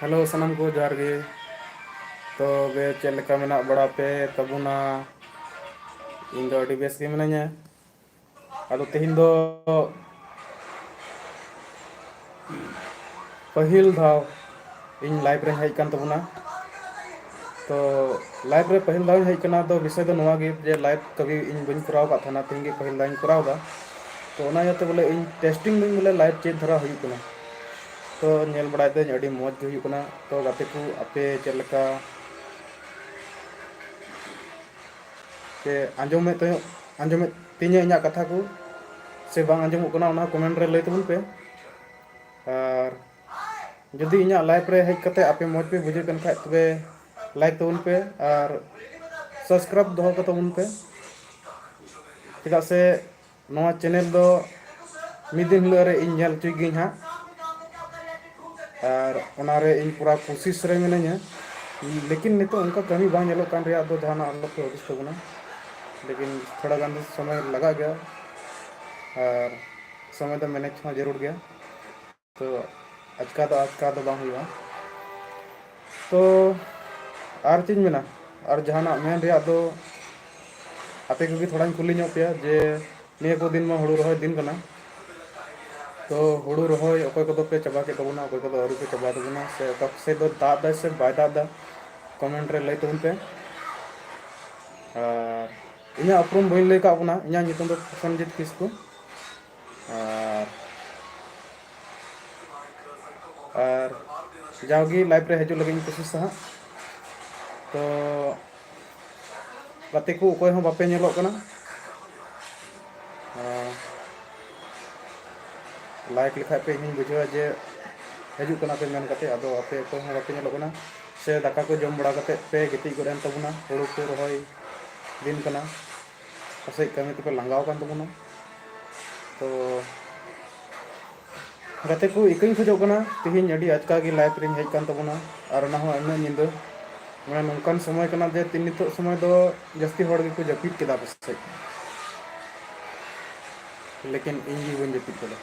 Hello ᱥᱟᱱᱟᱢ ᱠᱚ ᱡᱚᱦᱟᱨ ᱜᱮ ᱛᱚᱵᱮ ᱪᱮᱫ ᱞᱮᱠᱟ ᱢᱮᱱᱟᱜ ᱵᱟᱲᱟ ᱯᱮ ᱛᱟᱵᱚᱱᱟ ᱤᱧ ᱫᱚ ᱟᱹᱰᱤ ᱵᱮᱥ ᱜᱮ ᱢᱤᱱᱟᱹᱧᱟ ᱟᱫᱚ ᱛᱮᱦᱮᱧ ᱫᱚ ᱯᱟᱹᱦᱤᱞ ᱫᱷᱟᱣ ᱤᱧ ᱞᱟᱭᱤᱵᱽ ᱨᱮᱧ ᱦᱮᱡ ᱠᱟᱱ ᱛᱟᱵᱚᱱᱟ ᱛᱚ ᱞᱟᱭᱤᱵᱽ ᱨᱮ ᱯᱟᱹᱦᱤᱞ ᱫᱷᱟᱣ ᱤᱧ ᱦᱮᱡ ᱠᱟᱱᱟ ᱛᱚ ᱵᱤᱥᱚᱭ ᱫᱚ ᱱᱚᱣᱟ ᱜᱮ ᱡᱮ ᱞᱟᱭᱤᱵᱽ ᱠᱟᱹᱵᱷᱤ ᱤᱧ ᱵᱟᱹᱧ ᱠᱚᱨᱟᱣ ᱟᱠᱟᱫ ᱛᱟᱦᱮᱱᱟ ᱛᱮᱦᱮᱧ ᱜᱮ ᱯᱟᱹᱦᱤᱞ ᱫᱷᱟᱣ ᱤᱧ ᱠᱚᱨᱟᱣ ᱮᱫᱟ ᱛᱚ ᱚᱱᱟ ᱤᱭᱟᱹᱛᱮ ᱵᱚᱞᱮ ᱤᱧ ᱴᱮᱥᱴᱤᱝ ᱫᱟᱹᱧ ᱵᱚᱞᱮ ᱞᱟᱭᱤᱵᱽ ᱪᱮᱫ ᱫᱷᱟᱨᱟ ᱦᱩᱭᱩᱜ ᱠᱟᱱᱟ ᱛᱚ ᱧᱮᱞ ᱵᱟᱲᱟᱭ ᱫᱟᱹᱧ ᱟᱹᱰᱤ ᱢᱚᱡᱽ ᱜᱮ ᱦᱩᱭᱩᱜ ᱠᱟᱱᱟ ᱛᱚ ᱜᱟᱛᱮ ᱠᱚ ᱟᱯᱮ ᱪᱮᱫ ᱞᱮᱠᱟ ᱯᱮ ᱟᱸᱡᱚᱢᱮᱫ ᱛᱟᱦᱮᱸᱫ ᱟᱸᱡᱚᱢᱮᱫ ᱛᱤᱧᱟᱹ ᱤᱧᱟᱹᱜ ᱠᱟᱛᱷᱟ ᱠᱚ ᱥᱮ ᱵᱟᱝ ᱟᱸᱡᱚᱢᱚᱜ ᱠᱟᱱᱟ ᱚᱱᱟ ᱠᱚᱢᱮᱱᱴ ᱨᱮ ᱞᱟᱹᱭ ᱛᱟᱵᱚᱱ ᱯᱮ ᱟᱨ ᱡᱩᱫᱤ ᱤᱧᱟᱹᱜ ᱞᱟᱭᱤᱵᱷ ᱨᱮ ᱦᱮᱡ ᱠᱟᱛᱮ ᱟᱯᱮ ᱢᱚᱡᱽ ᱯᱮ ᱵᱩᱡᱷᱟᱹᱜ ᱠᱟᱱ ᱠᱷᱟᱡ ᱛᱚᱵᱮ ᱞᱟᱭᱤᱠ ᱛᱟᱵᱚᱱ ᱯᱮ ᱟᱨ ᱥᱟᱵᱥᱠᱨᱟᱭᱤᱵᱽ ᱫᱚᱦᱚ ᱠᱟᱛᱟᱵᱚᱱ ᱯᱮ ᱪᱮᱫᱟᱜ ᱥᱮ ᱱᱚᱣᱟ ᱪᱮᱱᱮᱞ ᱫᱚ ᱢᱤᱫ ᱫᱤᱱ ᱦᱤᱞᱳᱜ ᱨᱮ ᱤᱧ ᱧᱮᱞ ᱦᱚᱪᱚᱭ ᱜᱤᱭᱟᱹᱧ ᱦᱟᱸᱜ ᱟᱨ ᱚᱱᱟ ᱨᱮ ᱤᱧ ᱯᱩᱨᱟ ᱠᱩᱥᱤᱥ ᱨᱮ ᱢᱤᱱᱟᱹᱧᱟ ᱞᱮᱠᱤᱱ ᱱᱤᱛᱚᱜ ᱚᱱᱠᱟ ᱠᱟᱹᱢᱤ ᱵᱟᱝ ᱧᱮᱞᱚᱜ ᱠᱟᱱ ᱨᱮᱭᱟᱜ ᱫᱚ ᱡᱟᱦᱟᱱᱟᱜ ᱟᱞᱚ ᱯᱮ ᱦᱩᱫᱤᱥ ᱛᱟᱵᱚᱱᱟ ᱞᱮᱠᱤᱱ ᱛᱷᱚᱲᱟ ᱜᱟᱱ ᱫᱚ ᱥᱚᱢᱚᱭ ᱞᱟᱜᱟᱜ ᱜᱮᱭᱟ ᱟᱨ ᱥᱚᱢᱚᱭ ᱫᱚ ᱢᱮᱱᱮᱡᱽ ᱦᱚᱸ ᱡᱟᱹᱨᱩᱲ ᱜᱮᱭᱟ ᱛᱚ ᱟᱪᱠᱟ ᱫᱚ ᱟᱪᱠᱟ ᱫᱚ ᱵᱟᱝ ᱦᱩᱭᱩᱜᱼᱟ ᱛᱚ ᱟᱨ ᱪᱮᱫ ᱤᱧ ᱢᱮᱱᱟ ᱟᱨ ᱡᱟᱦᱟᱱᱟᱜ ᱢᱮᱱ ᱨᱮᱭᱟᱜ ᱫᱚ ᱟᱯᱮ ᱠᱚᱜᱮ ᱛᱷᱚᱲᱟᱧ ᱠᱩᱞᱤ ᱧᱚᱜ ᱯᱮᱭᱟ ᱡᱮ ᱱᱤᱭᱟᱹ ᱠᱚ ᱫᱤᱱ ᱢᱟ ᱦᱩᱲᱩ ᱨᱚᱦᱚᱭ ᱫᱤᱱ ᱠᱟᱱᱟ ᱛᱚ ᱦᱩᱲᱩ ᱨᱚᱦᱚᱭ ᱚᱠᱚᱭ ᱠᱚᱫᱚ ᱯᱮ ᱪᱟᱵᱟ ᱠᱮᱫ ᱛᱟᱵᱚᱱᱟ ᱚᱠᱚᱭ ᱠᱚᱫᱚ ᱟᱹᱣᱨᱤ ᱯᱮ ᱪᱟᱵᱟᱭ ᱛᱟᱵᱚᱱᱟ ᱥᱮ ᱚᱠᱟ ᱠᱚ ᱥᱮᱫ ᱫᱚ ᱫᱟᱜ ᱮᱫᱟᱭ ᱥᱮ ᱵᱟᱭ ᱫᱟᱜ ᱮᱫᱟ ᱠᱚᱢᱮᱱᱴ ᱨᱮ ᱞᱟᱹᱭ ᱛᱟᱵᱚᱱ ᱯᱮ ᱟᱨ ᱤᱧᱟᱹᱜ ᱩᱯᱨᱩᱢ ᱵᱟᱹᱧ ᱞᱟᱹᱭ ᱟᱠᱟᱫ ᱵᱚᱱᱟ ᱤᱧᱟᱹᱜ ᱧᱩᱛᱩᱢ ᱫᱚ ᱯᱨᱚᱥᱚᱱᱡᱤᱛ ᱠᱤᱥᱠᱩ ᱟᱨ ᱟᱨ ᱡᱟᱣᱜᱮ ᱞᱟᱭᱤᱵᱷ ᱨᱮ ᱦᱤᱡᱩᱜ ᱞᱟᱹᱜᱤᱫ ᱤᱧ ᱠᱳᱥᱤᱥᱟ ᱦᱟᱸᱜ ᱛᱚ ᱜᱟᱛᱮ ᱠᱚ ᱚᱠᱚᱭ ᱦᱚᱸ ᱵᱟᱯᱮ ᱧᱮᱞᱚᱜ ᱠᱟᱱᱟ ᱞᱟᱭᱤᱠ ᱞᱮᱠᱷᱟᱡ ᱯᱮ ᱤᱧᱤᱧ ᱵᱩᱡᱷᱟᱹᱣᱟ ᱡᱮ ᱦᱤᱡᱩᱜ ᱠᱟᱱᱟ ᱯᱮ ᱢᱮᱱ ᱠᱟᱛᱮ ᱟᱫᱚ ᱟᱯᱮ ᱚᱠᱚᱭ ᱦᱚᱸ ᱵᱟᱯᱮ ᱧᱮᱞᱚᱜ ᱠᱟᱱᱟ ᱥᱮ ᱫᱟᱠᱟ ᱠᱚ ᱡᱚᱢ ᱵᱟᱲᱟ ᱠᱟᱛᱮ ᱯᱮ ᱜᱤᱛᱤᱡ ᱜᱚᱫ ᱮᱱ ᱛᱟᱵᱚᱱᱟ ᱦᱩᱲᱩ ᱠᱚ ᱨᱚᱦᱚᱭ ᱫᱤᱱ ᱠᱟᱱᱟ ᱯᱟᱥᱮᱡ ᱠᱟᱹᱢᱤ ᱛᱮᱯᱮ ᱞᱟᱸᱜᱟᱣ ᱟᱠᱟᱱ ᱛᱟᱵᱚᱱᱟ ᱛᱚ ᱜᱟᱛᱮ ᱠᱚ ᱤᱠᱟᱹᱧ ᱠᱷᱚᱡᱚᱜ ᱠᱟᱱᱟ ᱛᱮᱦᱮᱧ ᱟᱹᱰᱤ ᱟᱪᱠᱟ ᱜᱮ ᱞᱟᱭᱤᱵᱷ ᱨᱮᱧ ᱦᱮᱡ ᱟᱠᱟᱱ ᱛᱟᱵᱚᱱᱟ ᱟᱨ ᱚᱱᱟ ᱦᱚᱸ ᱩᱱᱟᱹᱜ ᱧᱤᱫᱟᱹ ᱢᱟᱱᱮ ᱱᱚᱝᱠᱟᱱ ᱥᱚᱢᱚᱭ ᱠᱟᱱᱟ ᱡᱮ ᱛᱤᱱ ᱱᱤᱛᱚᱜ ᱥᱚᱢᱚᱭ ᱫᱚ ᱡᱟᱹᱥᱛᱤ ᱦᱚᱲ ᱜᱮᱠᱚ ᱡᱟᱹᱯᱤᱫ ᱠᱮᱫᱟ ᱯᱟᱥᱮᱡ ᱞᱮᱠᱤᱱ ᱤᱧ ᱜᱮ ᱵᱟᱹᱧ ᱡᱟᱹᱯᱤᱫ ᱠᱟᱫᱟ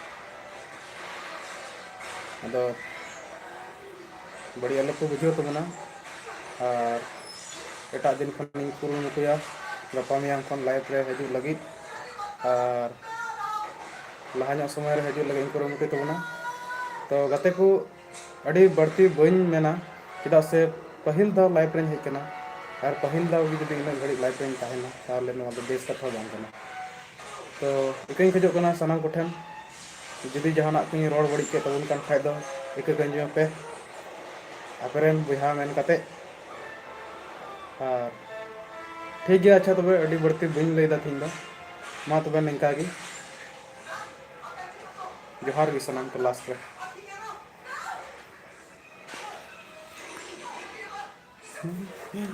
ᱟᱫᱚ ᱵᱟᱹᱲᱤᱡ ᱟᱞᱚ ᱠᱚ ᱵᱩᱡᱷᱟᱹᱣ ᱛᱟᱵᱚᱱᱟ ᱟᱨ ᱮᱴᱟᱜ ᱫᱤᱱ ᱠᱷᱚᱱ ᱤᱧ ᱠᱩᱨᱩᱢᱩᱴᱩᱭᱟ ᱜᱟᱯᱟ ᱢᱮᱭᱟᱝ ᱠᱷᱚᱱ ᱞᱟᱭᱤᱵᱷ ᱨᱮ ᱦᱤᱡᱩᱜ ᱞᱟᱹᱜᱤᱫ ᱟᱨ ᱞᱟᱦᱟ ᱧᱚᱜ ᱥᱚᱢᱚᱭ ᱨᱮ ᱦᱤᱡᱩᱜ ᱞᱟᱹᱜᱤᱫ ᱤᱧ ᱠᱩᱨᱩᱢᱩᱴᱩᱭ ᱛᱟᱵᱚᱱᱟ ᱛᱚ ᱜᱟᱛᱮ ᱠᱚ ᱟᱹᱰᱤ ᱵᱟᱹᱲᱛᱤ ᱵᱟᱹᱧ ᱢᱮᱱᱟ ᱪᱮᱫᱟᱜ ᱥᱮ ᱯᱟᱹᱦᱤᱞ ᱫᱷᱟᱣ ᱞᱟᱭᱤᱵᱷ ᱨᱮᱧ ᱦᱮᱡ ᱠᱟᱱᱟ ᱟᱨ ᱯᱟᱹᱦᱤᱞ ᱫᱷᱟᱣ ᱜᱮ ᱡᱩᱫᱤ ᱤᱱᱟᱹᱜ ᱜᱷᱟᱹᱲᱤᱡ ᱞᱟᱭᱤᱵᱷ ᱨᱮᱧ ᱛᱟᱦᱮᱱᱟ ᱛᱟᱦᱚᱞᱮ ᱱᱚᱣᱟ ᱫᱚ ᱵᱮᱥ ᱠᱟᱛᱷᱟ ᱵᱟᱝ ᱠᱟᱱᱟ ᱛᱚ ᱤᱠᱟᱹᱧ ᱠᱷᱚᱡᱚᱜ ᱠᱟᱱᱟ ᱥᱟᱱᱟᱢ ᱠᱚᱴᱷᱮᱱ ᱡᱩᱫᱤ ᱡᱟᱦᱟᱱᱟᱜ ᱠᱚᱧ ᱨᱚᱲ ᱵᱟᱹᱲᱤᱡ ᱠᱮᱫ ᱛᱟᱵᱚᱱ ᱠᱟᱱ ᱠᱷᱟᱡ ᱫᱚ ᱤᱠᱟᱹ ᱠᱟᱹᱧᱡᱚ ᱯᱮ ᱟᱯᱮᱨᱮᱱ ᱵᱚᱭᱦᱟ ᱢᱮᱱ ᱠᱟᱛᱮ ᱟᱨ ᱴᱷᱤᱠ ᱜᱮᱭᱟ ᱟᱪᱪᱷᱟ ᱛᱚᱵᱮ ᱟᱹᱰᱤ ᱵᱟᱹᱲᱛᱤ ᱵᱟᱹᱧ ᱞᱟᱹᱭᱫᱟ ᱛᱤᱦᱤᱧ ᱫᱚ ᱢᱟ ᱛᱚᱵᱮ ᱱᱤᱝᱠᱟ ᱜᱮ ᱡᱚᱦᱟᱨ ᱜᱮ ᱥᱟᱱᱟᱢ ᱠᱚ ᱞᱟᱥᱴ ᱨᱮ Mm-hmm.